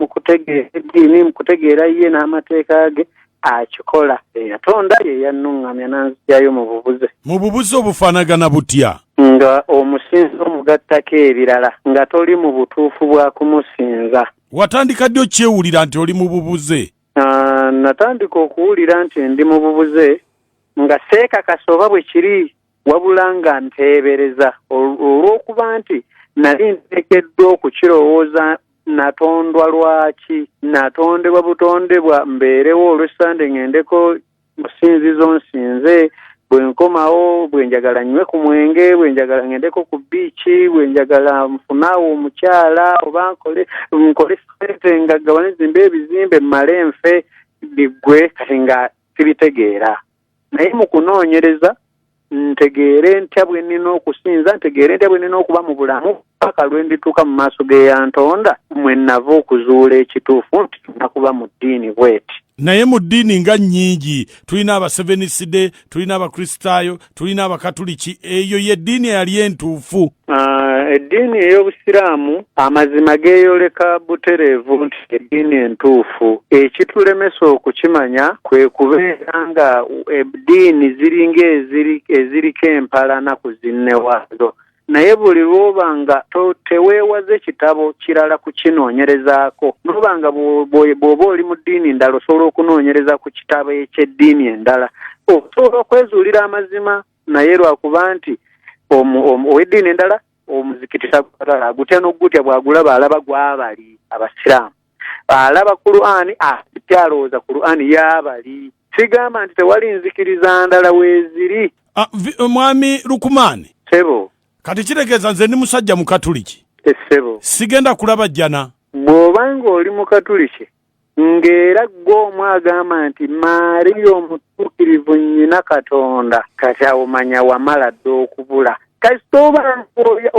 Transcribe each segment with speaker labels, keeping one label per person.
Speaker 1: mu kutegeera eddiini mu kutegeera ye n'amateeka ge akikola eyatonda ye yannuŋŋamya n'anzigyayo mu bubuze mu bubuze
Speaker 2: obufaanagana butya nga
Speaker 1: omusinza omugattako ebirala nga toli mu butuufu bwa kumusinza watandika ddi
Speaker 2: okyewulira nti oli mu bubuze natandika
Speaker 1: okuwulira nti ndi mu bubuze nga seekakasa oba bwe kiri wabula nga nteebereza olw'okuba nti nali nteekeddwa okukirowooza natondwa lwaki natondebwa butondebwa mbeerewo olwessande ŋendeko musinzizo nsinze bwe nkomawo bwe njagala nnywe ku mwenge bwe njagala ŋendeko ku biiki bwe njagala nfunaawo omukyala oba nkole nkole sente nga gabane zimba ebizimbe mmale nfe biggwe kati nga sibitegeera naye mu kunoonyereza ntegeere ntya bwe nnina okusinza ntegeere ntya bwe nnina okuba mu bulamu paka lwe ndituuka mu maaso g'eyantonda mwe nnava okuzuula ekituufu nti tulina kuba mu ddiini bweti naye mu ddiini
Speaker 2: nga nnyingi tulina abaseveniside tulina abakristaayo tulina abakatuliki eyo ye ddiini eyali entuufu Ah, eddiini
Speaker 1: ey'obusiraamu amazima geeyoleka butereevu nti eddiini entuufu ekitulemesa okukimanya kwe kubeera nga eddiini ziringa eziriko empalana ku zinne waazo naye buli lwoba nga teweewaze kitabo kirala kukinoonyerezaako noba nga bw'oba oli mu ddiini endala osobola okunoonyereza ku kitabo eky'eddiini endala osobola okwezuulira amazima naye lwakuba nti ow'eddiini endala omuzikiti sagutala agutya n'ogutya bw'agulaba alaba gwabali abasiraamu alaba kuluani ati alowooza kuluani y'abali sigamba nti tewali nzikiriza ndala weeziri ah, eh, mwami
Speaker 2: lukumaani sebo
Speaker 1: kati kitegeeza
Speaker 2: nze ndi musajja mukatuliki eh, sebo
Speaker 1: sigenda kulaba
Speaker 2: jjana bw'oba ng'oli
Speaker 1: mukatuliki ng'era ggwe omu agamba nti maariya omutuukirivu nnyina katonda kati awo manya wamala dda okubula kasita oba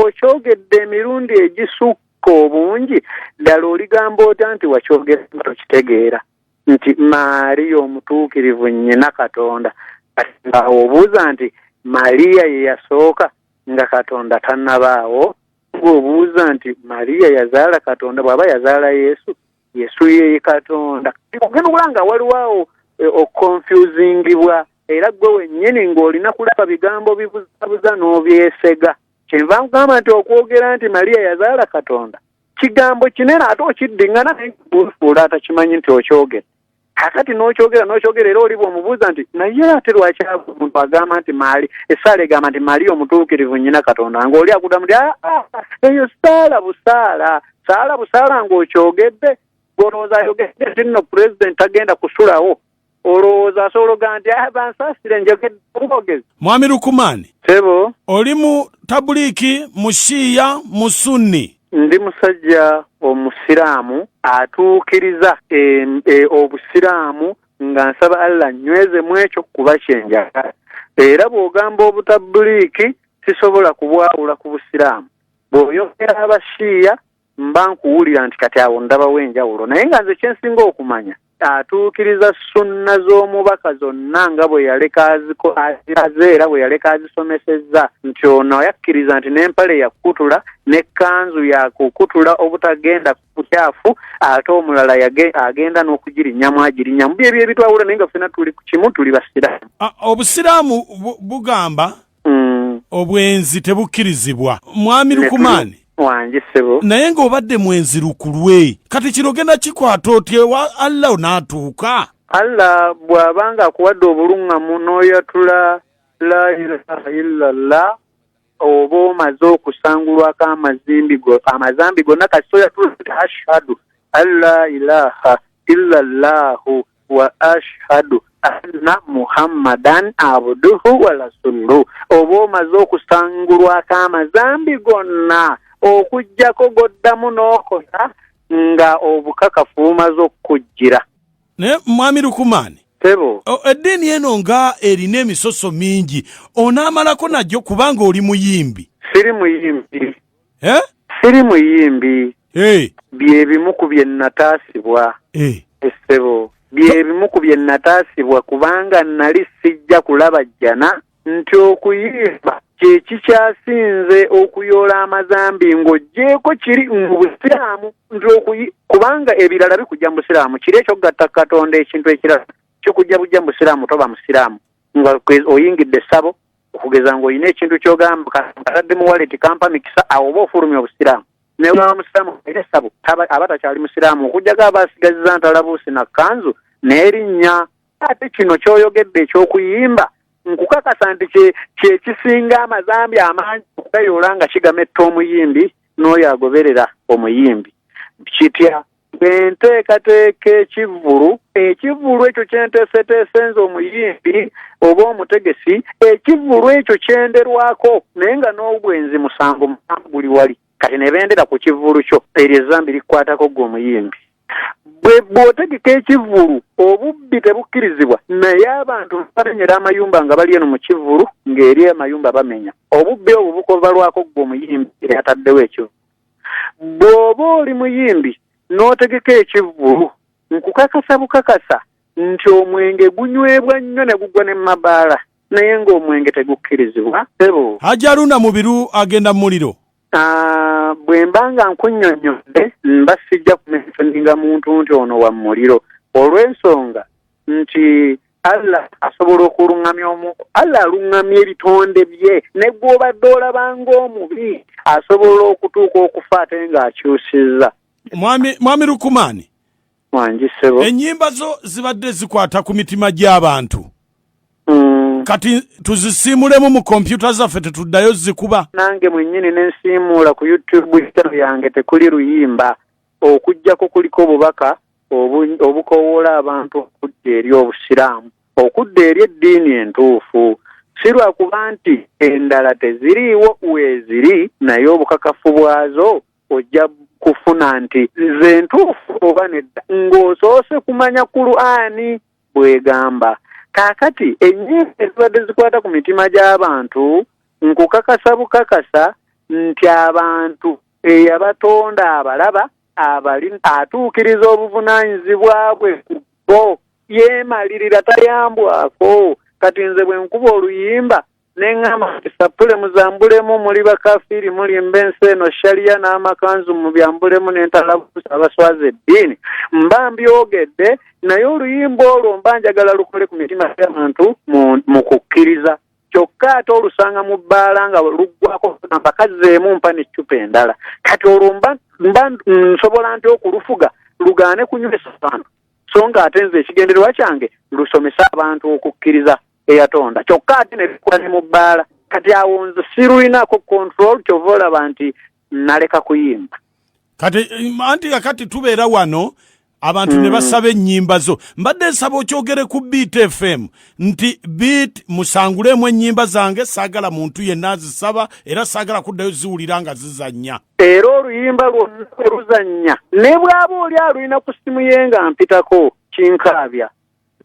Speaker 1: okyogedde emirundi egisukka obungi ddala oligamba ota nti wakyogera nga tokitegeera nti maariya omutuukirivu nnyina katonda kati ngaawo obuuza nti mariya ye yasooka nga katonda tannabaawo bw'obuuza nti mariya yazaala katonda bw'aba yazaala yesu yesu yeye katonda ogenda okula nga waliwo awo eh, okukonfusingibwa era gwe wennyini ng'olina kulaba bigambo bibuzabuza n'obyesega kyenva nkugamba nti okwogera nti mariya yazaala katonda kigambo kinene ate okiddiŋŋana naye buufuula atakimanyi nti okyogera kakati nokyogera nokyogera era oliba omubuuza nti naye ate lwaki omuntu agamba nti maali esaala egamba nti maali omutuukirivu nyina katonda nga oli akuda muti aa ah, ah, eyo saala busaala saala busaala ngaokyogedde olowooza ayogedde nti nno pulezidenti tagenda kusulawo olowooza asobola ogaa nti ah, bansasire njogedde obwogezi mwami lukumaani
Speaker 2: sebo oli
Speaker 1: mu
Speaker 2: tabuliiki mu shiiya mu sunni ndi musajja
Speaker 1: omusiraamu atuukiriza e, e, obusiraamu nga nsaba allah nyweze mu ekyo kuba kyenjagala era bw'ogamba obutabuliiki sisobola kubwawula ku busiraamu bw'oyongera abashiiya mba nkuwulira nti kati awo ndabawo enjawulo naye nga nze kyensinga okumanya atuukiriza sunna z'omubaka zonna nga bwe yaleka aziraze era bwe yaleka azisomesezza nti ono yakkiriza nti n'empale yakukutula n'ekkanzu yakukutula obutagenda kukyafu ate omulala agenda n'okugirinyamu agirinyamu byebyo ebitwawula naye nga ffena tuli ku kimu tuli basiraamu obusiraamu
Speaker 2: bugamba mm. obwenzi tebukkirizibwa mwami lukumaani wange sebo
Speaker 1: naye ng'obadde mwenzi
Speaker 2: lukulwe kati kino ogenda kikwata otya ewa allah onaatuuka allah
Speaker 1: bw'aba nga akuwadde obuluŋŋamu n'oyatula la ilaha illallah oba omaze okusangulwako amazimbi go amazambi gonna kasita oyatula ashhadu an la ilaha illallahu wa ashhadu anna muhammadan abduhu wa rasuluhu oba omaze okusangulwako amazambi gonna okugyako goddamu n'okola nga obukakafu bumaze okukujjira naye
Speaker 2: mwami lukumaani tebo o-
Speaker 1: eddiini eno
Speaker 2: nga erina emisoso mingi onaamalako nagyo kubanga oli muyimbi siri muyimbi
Speaker 1: eh? siri
Speaker 2: muyimbi
Speaker 1: hey. Eh. byebimu ku bye nataasibwa hey. Eh. essebo byebimu ku bye nataasibwa kubanga nali sijja kulaba jjana nti okuyimba kyekikyasinze okuyoola amazambi ng'oggyeeko kiri mu busiraamu nti okuyi kubanga ebirala bikujja mu busiraamu kiri ekyokugatta katonda ekintu ekirala kikujja bujja mu busiraamu toba musiraamu nga oyingidde essabo okugeza ng'olina ekintu kyogamba katadde mu waleti kampa mikisa awo oba ofulumya obusiraamu naye olaba musiraamu era essabo aba takyali musiraamu okujjako aba asigaziza ntalabuusi na kanzu n'erinnya ate kino kyoyogedde eky'okuyimba nkukakasa nti kyekisinga amazambi amangi okugayoola nga kigametta omuyimbi n'oyo agoberera omuyimbi kitya enteekateeka ekivvulu ekivvulu ekyo kyenteeseteese nze omuyimbi oba omutegesi ekivvulu ekyo kyenderwako naye nga n'obwenzi musango musango guli wali kati ne bendera ku kivvulu kyo eryo ezambi likwatako gwe omuyimbi bwe bw'otegeka ekivvulu obubbi tebukkirizibwa naye abantu bamenyera amayumba nga bali eno mu kivvulu ng'eri amayumba bamenya obubbi obwo bukovalwako gwe omuyimbi eyataddewo ekivvulu bw'oba oli muyimbi n'otegeka ekivvulu nkukakasa bukakasa nti omwenge gunywebwa nnyo ne gugwa ne mabaala naye ng'omwenge tegukkirizibwa ebo hajaruna mubiru
Speaker 2: agenda mu muliro ah, bwe
Speaker 1: mba nga nkunyonnyodde mba sijja kumensoninga muntu nti ono wa muliro olw'ensonga nti allah asobola okulungamya omu allah alungamya ebitonde bye negwobadde olabanga omubi asobola okutuuka okufa ate nga akyusiza mwami mwami lukumani
Speaker 2: wanjisebo
Speaker 1: enyimba zo
Speaker 2: zibadde zikwata ku mitima gy'abantu mm. kati tuzisiimulemu mu kompyuta zaffe tetuddayo zikuba nange mwenyini
Speaker 1: nensiimuula ku youtube channel yange tekuli luyimba okujjako kuliko obubaka obukowoola abantu okudda eri obusiraamu okudda eri eddiini entuufu si lwakuba nti endala teziriiwo weeziri naye obukakafu bwazo ojja kufuna nti ze ntuufu oba nedda ng'osoose kumanya kuluani bwegamba kaakati ennyimba ezibadde zikwata ku mitima gy'abantu nkukakasa bukakasa nti abantu eyabatonda abalaba abali atuukiriza obuvunaanyizibwa bwe ku bo yeemalirira tayambwako kati nze bwe nkuba oluyimba ne ŋŋamba nti sappule muzambulemu muli bakafiiri mulimba ensi eno shaliya n'amakanzu mu byambulemu n'entalabuusa abaswaza eddiini mba mbyogedde naye oluyimba olwo mba njagala lukole ku mitima gy'abantu mu kukkiriza kyokka ate olusanga mu bbaala nga luggwako namba kazzeemu mpa n'eccupa endala kati olwo mba nsobola nti okulufuga lugaane kunywesa abantu so nga ate nze ekigendererwa kyange lusomese abantu okukkiriza eyatonda kyokka ate ne bikola ne mu bbaala kati awo nze sirulinako control kyova olaba nti naleka kuyimba kati eh,
Speaker 2: anti kakati tubeera wano abantu mm. ne basaba ennyimba zo mbadde nsaba okyogere ku beat fm nti beat musanguleemu ennyimba zange saagala muntu yenna azisaba era saagala kuddayo ziwulira nga zizannya era oluyimba
Speaker 1: lwonna oluzannya ne bw'aba oli alulina ku ssimu ye nga mpitako kinkaabya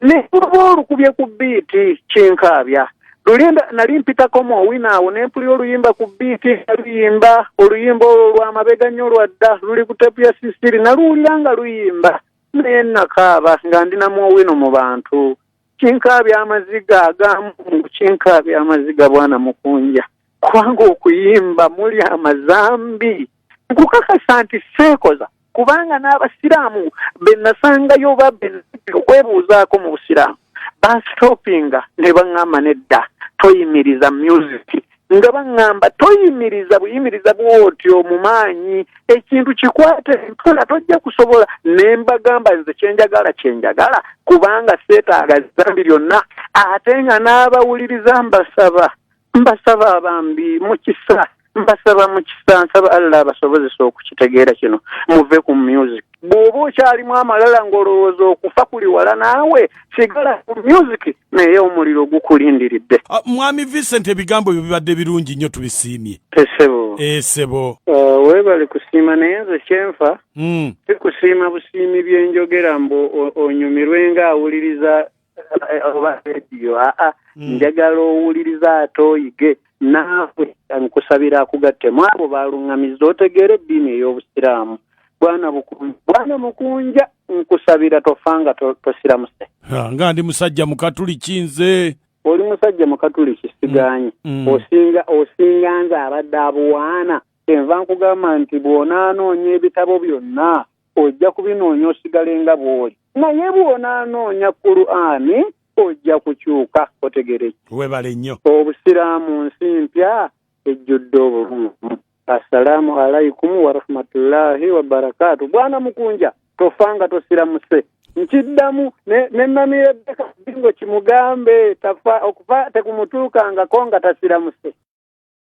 Speaker 1: ne luba olukubye ku biiti kinkaabya luli nali mpitako mu owina awo ne mpulira oluyimba ku biiti nga luyimba oluyimba olwo lwamabega nnyo lwadda luli ku tepu ya sisiri naluwulira nga luyimba naye nakaaba nga ndi namu owino mu bantu kinkaabya amaziga agamu kinkaabya amaziga bwana mukunja kubanga okuyimba muli amazambi nkukakasa nti seekoza kubanga n'abasiraamu be nasangayo oba be okwebuuzaako mu busiraamu bansitopinga ne baŋŋamba nedda toyimiriza musiki nga baŋŋamba toyimiriza buyimiriza bwotyo mu maanyi ekintu kikwate mpola tojja kusobola ne mbagamba nze kyenjagala kyenjagala kubanga seetaaga zambi lyonna ate nga n'abawuliriza mbasaba mbasaba bambi mukisa mbasaba mukisa nsaba allah abasobozesa okukitegeera kino muve ku music bw'oba okyalimu amalala ng'olowooza okufa kuli wala naawe sigala ku music naye omuliro gukulindiridde ah, mwami vincent
Speaker 2: ebigambo byo bibadde birungi nnyo tubisiimye esebo esebo eh, ah, weebale
Speaker 1: kusiima naye nze kyenfa hmm. sikusiima busiimi byenjogera mbu onyumirwe ng'awuliriza Eh, oba rediyo aa ah, ah. hmm. njagala owuliriza ate oyige naawe nkusabira akugatte mu abo baaluŋŋamizza otegeera eddiini ey'obusiraamu bwana bukunja bwana mukunja nkusabira tofa nga tosiramuse nga ndi
Speaker 2: musajja mukatuliki nze oli musajja
Speaker 1: mukatuliki siganye hmm. hmm. osinga osinga nze abadde abuwaana kyenva nkugamba nti bw'onaanoonya ebitabo byonna ojja kubinoonya osigale nga bw'oli naye bw'onaanoonya kuluani ojja kukyuka otegere webale nnyo
Speaker 2: obusiraamu nsi
Speaker 1: mpya ejjudde obulungi assalaamu alaikum warahmatullahi wabarakaatu bwana mukunja tofa nga tosiramuse nkiddamu nenamirebbeka bingo kimugambe tafa okufa tekumutuukangako nga tasiramuse